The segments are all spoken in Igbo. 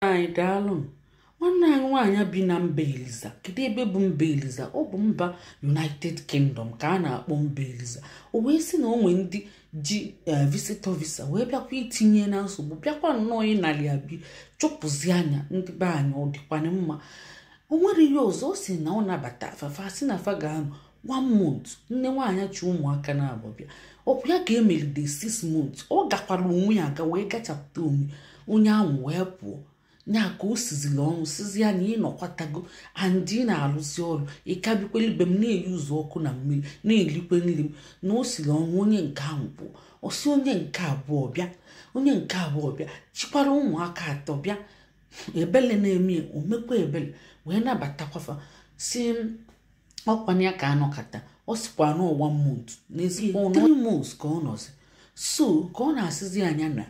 anyị daalụ nwanne anyị nwaanyị bi na mba eliza kedu ebe bụ mba eliza ọ bụ mba united kingdom ka a na-akpọ mba eliza o wee sị na o nwe ndị ji eh, visitor visa wee bịakwa itinye na nsogbu bịakwa nnọọ ịnarị abi chụpụzia nya ndị be anyị ọ dịkwana mma o nwere ihe ọzọ ọ sị na ọ nabata fa fa sị na fa ga-anọ one month nne nwaanyị a chị ụmụaka naabọ bịa ọkwa ya ka e melide six months ọ gakwara onwe ya aga wee gachapụta onwe onye ahụ wee pụọ nya ka o sizili ọnwụ sịzị ya na ị nọkwatago and ị na-arụzi ọrụ ị ka bikwa na be m na-e-use ọkụ na mmiri na-elikwa nri m na o siri ọnwụ onye nke ahụ pụọ ọ sị onye nke abụọ bịa onye nke abụọ bịa chịkwara ụmụaka atọ bịa ebele na-eme ya, o mekwa ebele wee nabatakwa fa si m ọkwanye ya ka a nọkata ọ sịkwa na one month n'ezigbo three months ka ọ nọzi so ka ọ na-asịzi nya na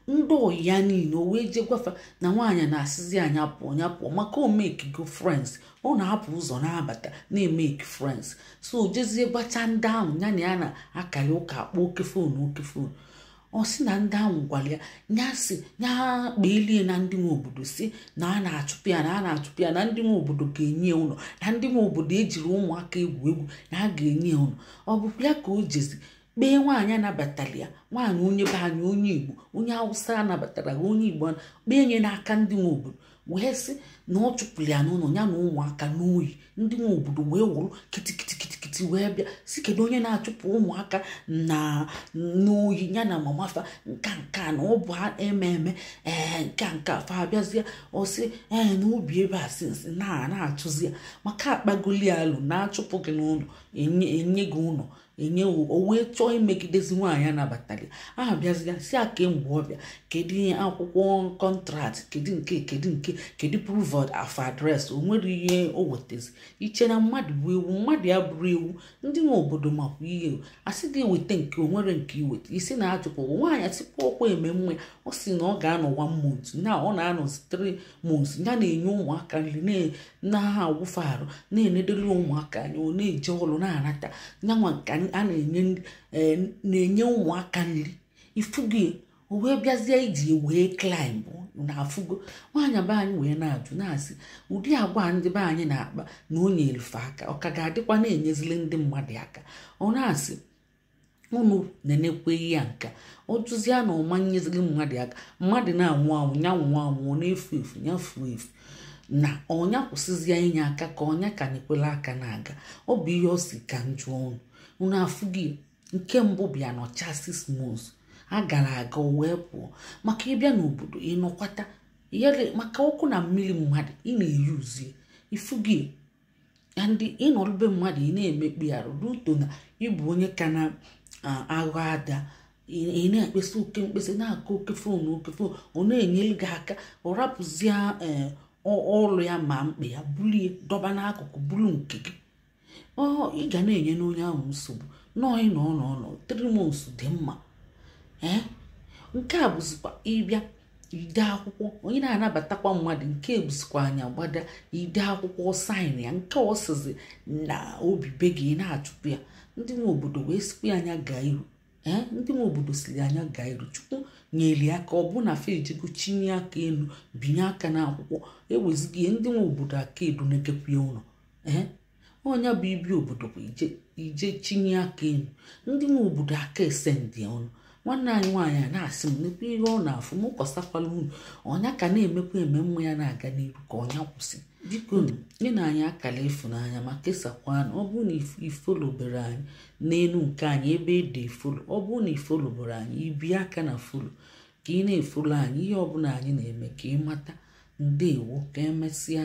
ndị ọyị ya niile o wee jee gwa fa na nwaanyị na-asịzi nya pụọ ya pụọ maka o makego friends ọ na-apụ ụzọ na-abata na-emake friends so jezie gbacha ndị ahụ ya na ya na-akarị ụka akpọ oke phone oke phone ọ sị na ndị ahụ gwara ya ya sị ya kpeelie na ndị nwe obodo sị na a na-achụpụ ya na a na-achụpụ ya na ndị nwe obodo ga-enye ya ụlọ na ndị nwe obodo ejirọ ụmụaka egwu egwu na a ga-enye ya ụlọ ọ bụkwa ya ka o jezi kpee nwaanyị a nabatara ya nwaanyị onye be anyị onye igbo onye awụsa anabatara ya onye igbo kpeenye n'aka ndị nwe obodo wee sị na ọ chụpụrụ ya n'ụlọ ya na ụmụaka n'oyi ndị nwe obodo wee wụrụ kitikitikiti wee bịa sị kedu onye na-achụpụ ụmụaka na n'oyi ya na mama fa nka nka na ọ bụ eme eme ee nka nka fa abịazie ọsị ee na o bi ebe a since na a na-achụzi ya maka akpagoli ya alo na achụpụ gị n'ụlọ enye gị ụlọ enye o wee chọọ imegidezi nwaanyị a nabatara ya a bịazịa sị ya kemgbe ọ bịa kedu ihe akwụkwọ contract kedu nke kedu nke kedu proof of address o nwerọ ihe o wetazi i che na mmadụ bụ ewu mmadụ abụrọ ewu ndị nwe obodo makwa ihe a sị gị weta nke o nwerọ nke i weta ị sị na achụpụ nwaanyị a sịkwa ọkwa eme nwa ọ sị na ọ ga-anọ one month na ọ na-anọzi three months ya na-enye ụmụaka nri na-awụ fa arụ na-enedelu ụmụaka anya ọ na-eje ọrụ na-anata nyanwa nke a na-enye eh, na-enye ụmụaka nri ị fụgo o wee bịazie iji wee claim na afụgo nwaanyị be anyị wee na-ajụ na-asị ụdị agwa ndị be anyị na-akpa na o nyere fa aka ọ ka ga-adịkwa na-enyezili ndị mmadụ aka ọ na-asị unu nenekwe ihe a nka ọ jụzie na ọ ma nyeziri mmadụ aka mmadụ na-anwụ anwụ ya nwụọ anwụọ na-efu efu ya fuo efu na ọ nya kwụsịzie inye aka ka ọ nya ka na-ekwela aka na-aga ọ bụ ihe ọ sị ka m jụọ unu unu afụ gị nke mbụ bịa nọcha six months a gara aga o wee pụọ maka ịbịa n'obodo ịnọkwata yere maka ọkụ na mmiri mmadụ ị na-eyuzie ifu gị ndị ịnọrọ be mmadụ ị na-emekpa ya arụ due to na ị bụ onye ka na-aghọ ada ị na-ekpesa oke mkpesa na-akụ oke fon oke fon ọ na-enyere gị aka ọ rapụzie ọrụ ya ma mkpa ya buru ya dọba n'akụkụ buru nke gị ọ ị ga na-enye n'onye ahụ nsogbu nọọ ịnọ ọnọ ọnọ three months dị mma ee nke a bụzikwa ịbịa ide akwụkwọ onye na-anabatakwa mmadụ nke a bụzikwa nya gbada ide akwụkwọ sign ya nke ọ sịzi na o bi be gị na-achụpụ ya ndị nwe obodo wee sịkwa nya gaa iru ee ndị nwe obodo sịrị nya gaa iru chukwu nyeli aka ọ bụ na fa ejego chinye aka elu binye aka n'akwụkwọ ewezighị ndị nwe obodo aka edu na-ekekwa ya ụlọ ee ọ nya bụ ibi obodo bụ ije chinye aka elu ndị nwe obodo aka esendị ụnọ nwanne anyị nwaanyị a na-asị m nekwa ihe ọ na-afụ m kọsakwala unu ọ nya ka na-emekwa eme mma ya na-aga n'iru ka ọ nya kwụsị biko nyenụ anyị akala ịfụnanya ma kesakwa na ọ bụrụ na ị followbere anyị n'elu nke anyị ebe e dere follow ọ bụrụ na ị followbere anyị bie aka na follow ka ị na-efollow anyị ihe ọbụla anyị na-eme ka ị mata ndewo ka emesịa